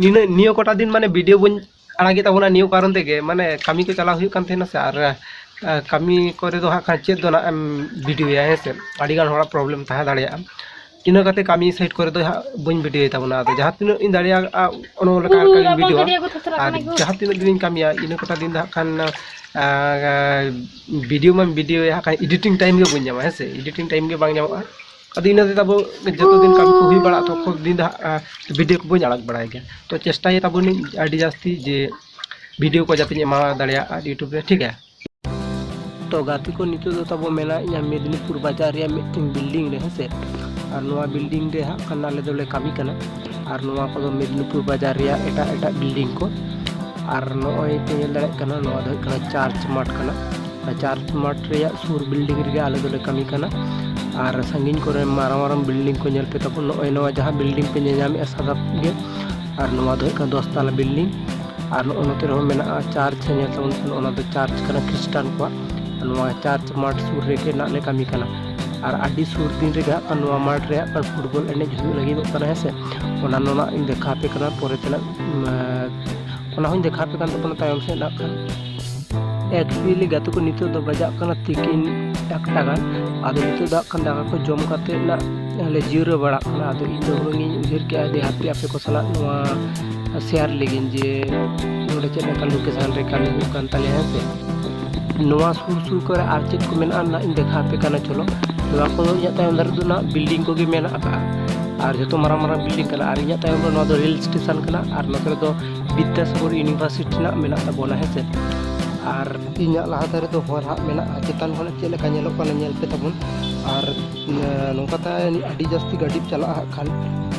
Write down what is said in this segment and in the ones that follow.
ᱱᱤᱱᱟᱹ ᱱᱤᱭᱟᱹ ᱠᱚᱴᱟ ᱫᱤᱱ ᱢᱟᱱᱮ ᱵᱷᱤᱰᱤᱭᱳ ᱵᱟᱹᱧ ᱟᱲᱟᱜᱮᱫ ᱛᱟᱵᱚᱱᱟ ᱱᱤᱭᱟᱹ ᱠᱟᱨᱚᱱ ᱛᱮᱜᱮ ᱢᱟᱱᱮ ᱠᱟᱹᱢᱤ ᱠᱚ ᱪᱟᱞᱟᱣ ᱦᱩᱭᱩᱜ ᱠᱟᱱ ᱛᱟᱦᱮᱱᱟ ᱥᱮ ᱟᱨ ᱠᱟᱹᱢᱤ ᱠᱚᱨᱮ ᱫᱚ ᱦᱟᱸᱜ ᱠᱷᱟᱱ ᱪᱮᱫ ᱫᱚ ᱱᱟᱜ ᱮᱢ ᱵᱷᱤᱰᱤᱭᱳᱭᱟ ᱦᱮᱸ ᱥᱮ ᱟᱹᱰᱤᱜᱟᱱ ᱦᱚᱲᱟᱜ ᱯᱨᱚᱵᱞᱮᱢ ᱛᱟᱦᱮᱸ ᱫᱟᱲᱮᱭᱟᱜᱼᱟ ᱤᱱᱟᱹ ᱠᱟᱛᱮ ᱠᱟᱹᱢᱤ ᱥᱟᱭᱤᱰ ᱠᱚᱨᱮ ᱫᱚ ᱦᱟᱸᱜ ᱵᱟᱹᱧ ᱵᱷᱤᱰᱤᱭᱳᱭ ᱛᱟᱵᱚᱱᱟ ᱟᱫᱚ ᱡᱟᱦᱟᱸ ᱛᱤᱱᱟᱹᱜ ᱤᱧ ᱫᱟᱲᱮᱭᱟᱜᱼᱟ ᱚᱱᱟ ᱞᱮᱠᱟ ᱞᱮᱠᱟᱧ ᱵᱷᱤᱰᱤᱭᱳ ᱟᱨ ᱡᱟᱦᱟᱸ ᱛᱤᱱᱟᱹᱜ ᱫᱤᱱᱤᱧ ᱠᱟᱹᱢᱤᱭᱟ ᱤᱱᱟᱹ ᱠᱚᱴᱟ ᱫᱤᱱ ᱫᱚ ᱦᱟᱸᱜ ᱠᱷᱟᱱ ᱵᱷᱤᱰᱤᱭᱳ ᱢᱟᱧ ᱵᱷᱤᱰᱤᱭᱳᱭᱟ ᱦᱟᱸᱜ ᱠᱷᱟᱱ ᱮᱰᱤᱴᱤᱝ ᱴᱟᱭᱤᱢ ᱜᱮ ᱵᱟᱹᱧ ᱧᱟᱢᱟ ᱦᱮᱸ ᱥᱮ ᱮᱰᱤᱴᱤᱝ ᱴᱟᱭᱤᱢ ᱜᱮ ᱵᱟᱝ ᱧᱟᱢᱚᱜᱼᱟ ᱟᱫᱚ ᱤᱱᱟᱹ ᱛᱮ ᱛᱟᱵᱚ ᱡᱚᱛᱚ ᱫᱤᱱ ᱠᱟᱹᱢᱤ ᱠᱚ ᱦᱩᱭ ᱵᱟᱲᱟᱜ ᱛᱚᱠᱷᱚ ᱫᱤᱱ ᱫᱚ ᱦᱟᱸᱜ ᱵᱷᱤᱰᱤᱭᱳ ᱠᱚ ᱵᱟᱹᱧ ᱟᱲᱟᱜ ᱵᱟᱲᱟᱭ ᱜᱮᱭᱟ ᱛᱚ ᱪᱮᱥᱴᱟᱭ ᱛᱟᱵᱚᱱᱤᱧ ᱟᱹᱰᱤ ᱡᱟᱹᱥᱛᱤ ᱡᱮ ᱵᱷᱤᱰᱤᱭᱳ ᱠᱚ ᱡᱟᱛᱮᱧ ᱮᱢᱟ ᱫᱟᱲᱮᱭᱟᱜ ᱟᱨ ᱤᱭᱩᱴᱩᱵᱽ ᱨᱮ ᱴᱷᱤᱠ ᱜᱮᱭᱟ ᱛᱚ ᱜᱟᱛᱮ ᱠᱚ ᱱᱤᱛᱚᱜ ᱫᱚ ᱛᱟᱵᱚ ᱢᱮᱱᱟᱜ ᱤᱧᱟ ᱢᱮᱫᱽᱱᱤᱯᱩᱨ ᱵᱟᱡᱟᱨ ᱨᱮᱭᱟᱜ ᱢᱤᱫᱴᱮᱱ ᱵᱤᱞᱰᱤᱝ ᱨᱮ ᱦᱮᱸᱥᱮ ᱟᱨ ᱱᱚᱣᱟ ᱵᱤᱞᱰᱤᱝ ᱨᱮ ᱦᱟᱸᱜ ᱠᱷᱟᱱ ᱟᱞᱮ ᱫᱚᱞᱮ ᱠᱟᱹᱢᱤ ᱠᱟᱱᱟ ᱟᱨ ᱱᱚᱣᱟ ᱠᱚᱫᱚ ᱢᱮᱫᱽᱱᱤᱯᱩᱨ ᱵᱟᱡᱟᱨ ᱨᱮᱭᱟᱜ ᱮᱴᱟᱜ ᱮᱴᱟᱜ ᱵᱤᱞᱰᱤᱝ ᱠᱚ ᱟᱨ ᱱᱚᱜᱼᱚᱭ ᱯᱮ ᱧᱮᱞ ᱫᱟᱲᱮᱭᱟᱜ ᱠᱟᱱᱟ ᱱᱚᱣᱟ ᱫᱚ ᱦᱩᱭᱩᱜ ᱠᱟᱱᱟ ᱪᱟᱨᱪ ᱢᱟᱴᱷ ᱠᱟᱱᱟ ᱪᱟᱨ ᱢᱟᱴ ᱨᱮᱭᱟᱜ ᱥᱩᱨ ᱵᱤᱞᱰᱤᱝ ᱨᱮᱜᱮ ᱟᱞᱮ ᱫᱚᱞᱮ ᱠᱟᱹᱢᱤ ᱠᱟᱱᱟ ᱟᱨ ᱥᱟᱺᱜᱤᱧ ᱠᱚᱨᱮ ᱢᱟᱨᱟᱝ ᱢᱟᱨᱟᱝ ᱵᱤᱞᱰᱤᱝ ᱠᱚ ᱧᱮᱞ ᱯᱮ ᱛᱟᱵᱚᱱ ᱱᱚᱜᱼᱚᱭ ᱱᱚᱣᱟ ᱡᱟᱦᱟᱸ ᱵᱤᱞᱰᱤᱝ ᱯᱮ ᱧᱮᱧᱟᱢᱮᱫᱼᱟ ᱥᱟᱫᱟ ᱜᱮ ᱟᱨ ᱱᱚᱣᱟ ᱫᱚ ᱦᱩᱭᱩᱜ ᱠᱟᱱᱟ ᱫᱚᱥ ᱛᱟᱞᱟ ᱵᱤᱞᱰᱤᱝ ᱟᱨ ᱱᱚᱜᱼᱚ ᱱᱚᱛᱮ ᱨᱮᱦᱚᱸ ᱢᱮᱱᱟᱜᱼᱟ ᱪᱟᱨᱪ ᱧᱮᱞ ᱛᱟᱵᱚᱱ ᱯᱮ ᱱᱚᱜᱼᱚ ᱱᱚᱣᱟ ᱫᱚ ᱪᱟᱨᱪ ᱠᱟᱱᱟ ᱠᱷᱨᱤᱥᱴᱟᱱ ᱠᱚᱣᱟᱜ ᱱᱚᱣᱟ ᱪᱟᱨᱪ ᱢᱟᱴ ᱥᱩᱨ ᱨᱮᱜᱮ ᱱᱟᱜ ᱞᱮ ᱠᱟᱹᱢᱤ ᱠᱟᱱᱟ ᱟᱨ ᱟᱹᱰᱤ ᱥᱩᱨ ᱫᱤᱱ ᱨᱮᱜᱮ ᱦᱟᱸᱜ ᱠᱷᱟᱱ ᱱᱚᱣᱟ ᱢᱟᱴ ᱨᱮ ᱦᱟᱸᱜ ᱠᱷᱟᱱ ᱯᱷᱩᱴᱵᱚᱞ ᱮᱱᱮᱡ ᱦᱩᱭᱩᱜ ᱞᱟᱹᱜᱤᱫᱚᱜ ᱠᱟᱱᱟ ᱦᱮᱸ ᱥᱮ ᱚᱱᱟ ᱱᱚᱣᱟ ᱤᱧ ᱫᱮᱠᱷᱟᱣ ᱟᱯᱮ ᱠᱟᱱᱟ ᱯᱚᱨᱮ ᱛᱮᱱᱟᱜ ᱚᱱᱟ ᱦᱚᱸᱧ ᱫᱮᱠᱷᱟᱣ ᱟᱯᱮ ᱠᱟᱱ ᱛᱟᱵᱚᱱᱟ ᱛᱟᱭᱚᱢ ᱥᱮᱫ ᱦᱟᱸᱜ ᱠᱷᱟᱱ ᱮᱠᱪᱩᱭᱮᱞᱤ ᱜᱟᱛᱮ ᱠᱚ ᱱᱤᱛᱚᱜ ᱫᱚ ᱵᱟᱡᱟᱜ ᱠᱟᱱᱟ ᱛᱤᱠᱤᱱ ᱮᱠᱴᱟ ᱜᱟᱱ ᱟᱫᱚ ᱱᱤᱛᱚᱜ ᱫᱚ ᱠᱷᱟᱱ ᱫᱟᱠᱟ ᱠᱚ ᱡᱚᱢ ᱠᱟᱛᱮ ᱱᱟᱜ ᱞᱮ ᱡᱤᱨᱟᱹᱣ ᱵᱟᱲᱟᱜ ᱠᱟᱱᱟ ᱟᱫᱚ ᱤᱧ ᱫᱚ ᱦᱩᱱᱟᱹᱝ ᱤᱧ ᱩᱭᱦᱟᱹᱨ ᱠᱮᱜᱼᱟ ᱡᱮ ᱦᱟᱯᱮ ᱟᱯᱮ ᱠᱚ ᱥᱟᱞᱟᱜ ᱱᱚᱣᱟ ᱥᱮᱭᱟᱨ ᱞᱟᱹᱜᱤᱫ ᱡᱮ ᱱᱚᱰᱮ ᱪᱮᱫ ᱞᱮᱠᱟ ᱞᱳᱠᱮᱥᱟᱱ ᱨᱮ ᱠᱟᱹᱢᱤ ᱦᱩᱭᱩᱜ ᱠᱟᱱ ᱛᱟᱞᱮᱭᱟ ᱦᱮᱸ ᱥᱮ ᱱᱚᱣᱟ ᱥᱩᱨ ᱥᱩᱨ ᱠᱚᱨᱮ ᱟᱨ ᱪᱮᱫ ᱠᱚ ᱢᱮᱱᱟᱜᱼᱟ ᱱᱟᱜ ᱤᱧ ᱫᱮᱠᱷᱟ ᱟᱯᱮ ᱠᱟᱱᱟ ᱪᱚᱞᱚ ᱱᱚᱣᱟ ᱠᱚᱫᱚ ᱤᱧᱟᱹᱜ ᱛᱟᱭᱚᱢ ᱫᱟᱨᱮ ᱫᱚ ᱱᱟᱜ ᱵᱤᱞᱰᱤᱝ ᱠᱚᱜᱮ ᱢᱮᱱᱟᱜ ᱟᱠᱟᱫᱼᱟ ᱟᱨ ᱡᱚᱛᱚ ᱢᱟᱨᱟᱝ ᱢᱟᱨᱟᱝ ᱵᱤᱞᱰᱤᱝ ᱠᱟᱱᱟ ᱟᱨ ᱤᱧᱟᱹᱜ ᱛᱟᱭᱚᱢ ᱨᱮ ᱱᱚᱣᱟ ᱫᱚ ᱨᱮᱹᱞ ᱥᱴᱮᱥᱚᱱ ᱠᱟᱱᱟ ᱟᱨ ᱱᱚᱛᱮ ᱨᱮᱫᱚ ᱵᱤᱫᱽᱫᱟᱥᱟᱜᱚᱨ ᱤᱭᱩᱱᱤᱵᱷᱟᱨᱥᱤᱴᱤ ᱨᱮᱱᱟᱜ ᱢᱮᱱᱟᱜ ᱛᱟᱵᱚᱱᱟ ᱦᱮᱸᱥᱮ ᱟᱨ ᱤᱧᱟᱹᱜ ᱞᱟᱦᱟ ᱫᱷᱟᱨᱮ ᱫᱚ ᱦᱚᱨ ᱦᱟᱸᱜ ᱢᱮᱱᱟᱜᱼᱟ ᱪᱮᱛᱟᱱ ᱠᱷᱚᱱ ᱪᱮᱫ ᱞᱮᱠᱟ ᱧᱮᱞᱚᱜ ᱠᱟᱱᱟ ᱧᱮᱞ ᱯᱮ ᱛᱟᱵᱚᱱ ᱟᱨ ᱱᱚᱝᱠᱟ ᱛᱮ ᱟᱹᱰᱤ ᱡᱟᱹᱥᱛᱤ ᱜᱟᱹᱰᱤ ᱪᱟᱞᱟᱜᱼᱟ ᱦᱟᱸᱜ ᱠᱷᱟᱱ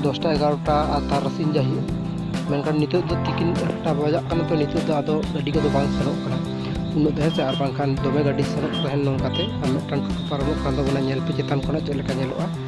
ᱫᱚᱥᱴᱟ ᱮᱜᱟᱨᱚᱴᱟ ᱟᱨ ᱛᱟᱨᱟᱥᱤᱧ ᱡᱟᱹᱦᱤ ᱢᱮᱱᱠᱷᱟᱱ ᱱᱤᱛᱚᱜ ᱫᱚ ᱛᱤᱠᱤᱱ ᱮᱠᱴᱟ ᱵᱟᱡᱟᱜ ᱠᱟᱱᱟ ᱛᱚ ᱱᱤᱛᱚᱜ ᱫᱚ ᱟᱫᱚ ᱜᱟᱹᱰᱤ ᱠᱚᱫᱚ ᱵᱟᱝ ᱥᱮᱱᱚᱜ ᱠᱟᱱᱟ ᱩᱱᱟᱹᱜ ᱫᱚ ᱦᱮᱸᱥᱮ ᱟᱨ ᱵᱟᱝᱠᱷᱟᱱ ᱫᱚᱢᱮ ᱜᱟᱹᱰᱤ ᱥᱮᱱᱚᱜ ᱛᱟᱦᱮᱱ ᱱᱚᱝᱠᱟᱛᱮ ᱟᱨ ᱢᱤᱫᱴᱟᱝ ᱴᱳᱴᱳ ᱯᱟᱨᱚᱢᱚᱜ ᱠᱟᱱ ᱛᱟᱵᱚᱱᱟ ᱧᱮᱞ ᱯᱮ ᱪᱮᱛᱟᱱ ᱠᱷᱚᱱᱟᱜ ᱪᱮᱫ ᱞᱮᱠᱟ ᱧᱮᱞᱚᱜᱼᱟ